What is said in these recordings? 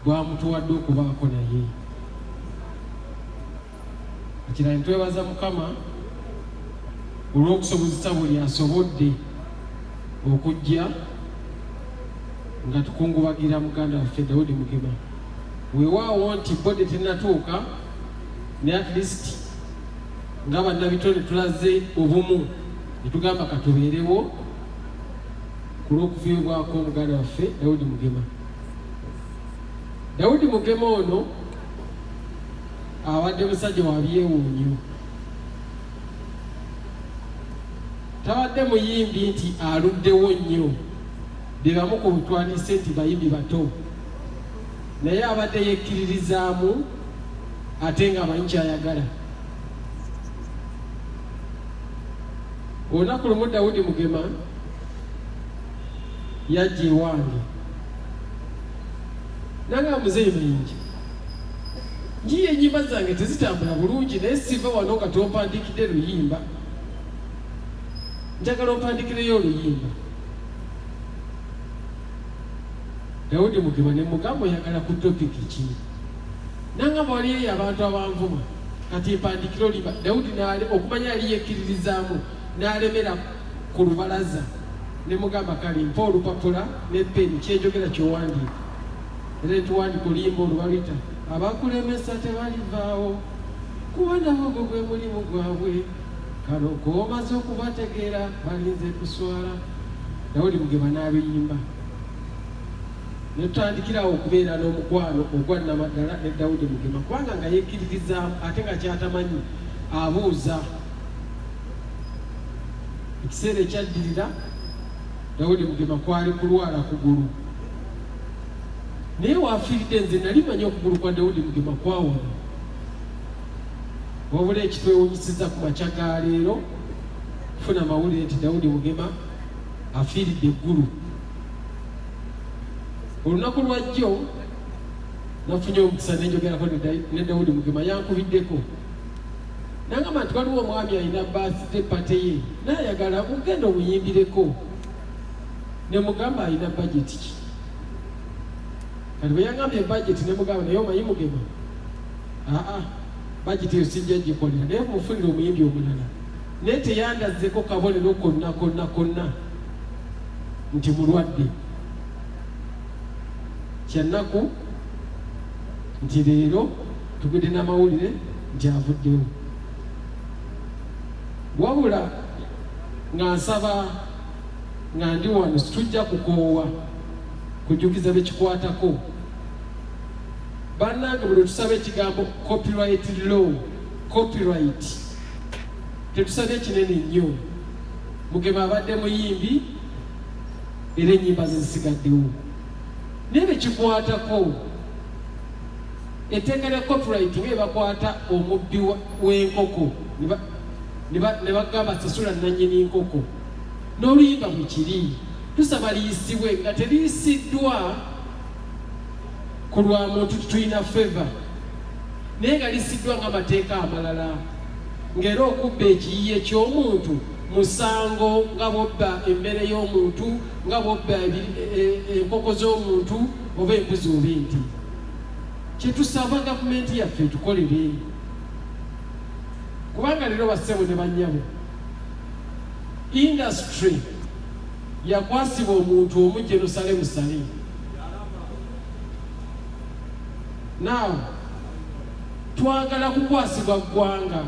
gwamutuwadde okubaako naye ekira nitwebaza mukama olw'okusobozesa buli asobodde okujja nga tukungubagira muganda waffe dawudi mugema wewaawo nti bode tenatuuka ne at least nga bannabitone tulaze obumu netugamba katubeerewo ku lw'okufiibwako muganda waffe Daudi Mugema. Daudi Mugema ono abadde musajja wa byewuunyo, tabadde muyimbi nti aluddewo nnyo be bamu ku butwandise nti bayimbi bato, naye abadde yekkiririzaamu ate ng'amanyi ky'ayagala. olunaku lumu dawudi mugema yajja ewange nanga muzeeyi bingi nyiyo enyimba zange tezitambula bulungi naye siva wano nga tompandikidde luyimba njagala ompandikireyo oluyimba dawudi mugema ne mugamba oyagala ku topiki ki nanga mwaliyeyo abantu abanvuma Kati empandikira oliba Dawudi n'ale okumanya yali yekkiririzaamu n'alemera ku lubalaza ne mugamba kale mpa olupapula ne peni kyenjogera kyowandiika era netuwandika oluyimba olubaluyita abakulemesa tebalivaawo kuba nabo gwe gwe mulimu gwabwe kano komaze okubategeera balinze kuswala dawudi mugeba n'aluyimba ne tutandikira awo okubeera n'omukwano ogwa nnamaddala ne Dawudi Mugema kubanga nga yekkiririzaamu ate nga kyatamanyi abuuza. Ekiseera ekyaddirira Dawudi Mugema kwali kulwala kugulu, naye waafiiridde nze nali manyi okugulu kwa Dawudi Mugema kwawona. Wabula ekitwewunyisiza ku makya ga leero kufuna mawulire nti Dawudi Mugema afiiridde eggulu. olunaku lwajjo nafunye omukisa nenjogerako ne dawudi mugema yankubiddeko nangamba nti waliwo omwami alina basite pate ye nayagala ogenda omuyimbireko nemugamba alina bajeti ki kati bweyangamba ebajeti nemugamba naye omanyi mugema aa bajeti eyo sijja gikolera naye mufunire omuyimbi omulala naye teyandazeko kabonero konna konna konna nti mulwadde. Kya nnaku nti leero tugudde n'amawulire nti avuddewo. Wabula nga nsaba nga ndi wano situjja kukoowa kujjukiza bekikwatako bannange buli tusaba ekigambo copyright law copyright tetusabye kinene nnyo Mugema abadde muyimbi era ennyimba ze zisigaddewo naye bekikwatako etteeka lya copyright nga ebakwata omubbi w'enkoko ne bagamba sasula nannyini nkoko n'oluyimba bwe kiri tusaba liyisibwe nga teriyisiddwa ku lwa muntu tulina favor naye nga lisiddwa ng'amateeka amalala ng'era okubba ekiyiye ky'omuntu musango nga bwobba emmere y'omuntu nga bwobba e, e, enkoko z'omuntu oba embuzi oba enti kyetusaba gavumenti yaffe etukolere kubanga leero bassebo ne bannyabo indasitry yakwasibwa omuntu omu jerusalemu salimu naawe twagala kukwasibwa ggwanga.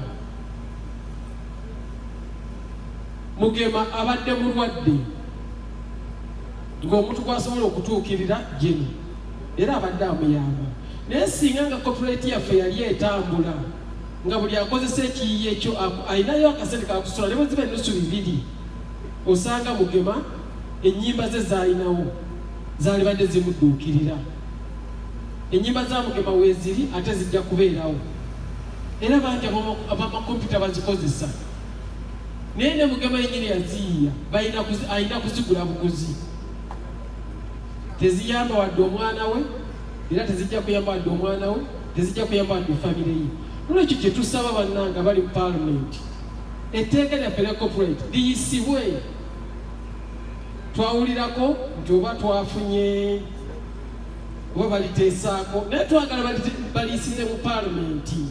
Mugema abadde mulwadde ng'omuntu gwasobola okutuukirira jini era abadde amuyamba naye singa nga kopuleeti yaffe yali etambula nga buli akozesa ekiyiye kyo alinayo akasente kakusula ne bweziba ennusu bibiri osanga mugema ennyimba ze zaalinawo zaalibadde zimudduukirira Ennyimba za Mugema weeziri ate zijja kubeerawo era bangi abamakompyuta bazikozesa naye ne Mugema yennyini yaziyiya alina kuzigula buguzi. Teziyamba wadde omwana we era tezijja kuyamba wadde omwana we tezijja kuyamba wadde famire ye. Nolwekyo kye tusaba bannanga bali mu paalamenti etteeka lyaffe lya corporate liyisibwe twawulirako nti oba twafunye oba baliteesaako naye twagala baliisize mu paalamenti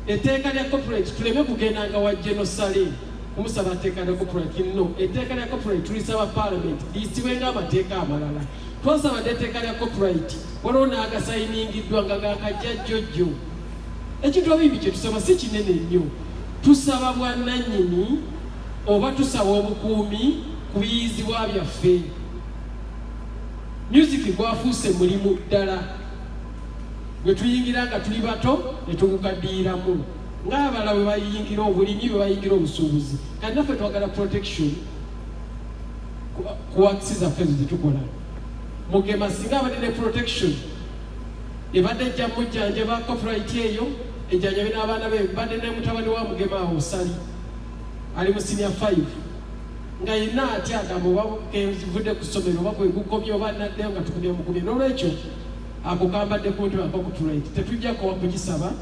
etteeka lya corporate tuleme kugendanga wa geno sale kumusaba tteeka lya corporate no etteeka lya corporate tulisaba paalamenti liyisibwe ng'amateeka amalala twasabadde etteeka lya corporate waliwo n'agasayiningiddwa nga gakajja jjojjo ekintu abimbi kye tusaba si kinene nnyo tusaba bwannannyini oba tusaba obukuumi ku biyizibwa byaffe Myuziki gwafuuse mulimu ddala gwe tuyingira nga tuli bato ne tugugaddiyiramu ng'abala bwe bayingira obulimi bwe bayingira obusuubuzi kati naffe twagala protection ku wakisi zaffe ezo zetukola mugema singa abadde ne protection ebadde ejja mujjanjaba copyright eyo ejjanjabe n'abaana be badde ne mutabani wa mugema awo sali ali mu senior 5 nga yenna atya agamba oba kenzivudde ku ssomero oba kwegukomye oba naddeyo nga tukumye mukumye n'olwekyo ako kambadde ku mutima kakutulaiti tetujja kowa kugisaba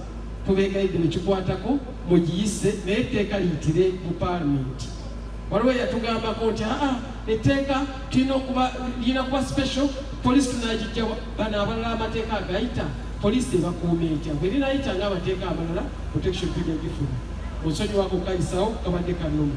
tubeegayidde nekikwatako mugiyise naye etteeka liyitire mu paalamenti waliwo yatugambako nti aa etteeka tulina okuba lirina kuba special poliisi tunagijjawa bano abalala amateeka agayita poliisi ebakuuma etya bwe rinayita nga amateeka amalala protection tujja gifuna onsonyiwako kayisawo kabadde kanuma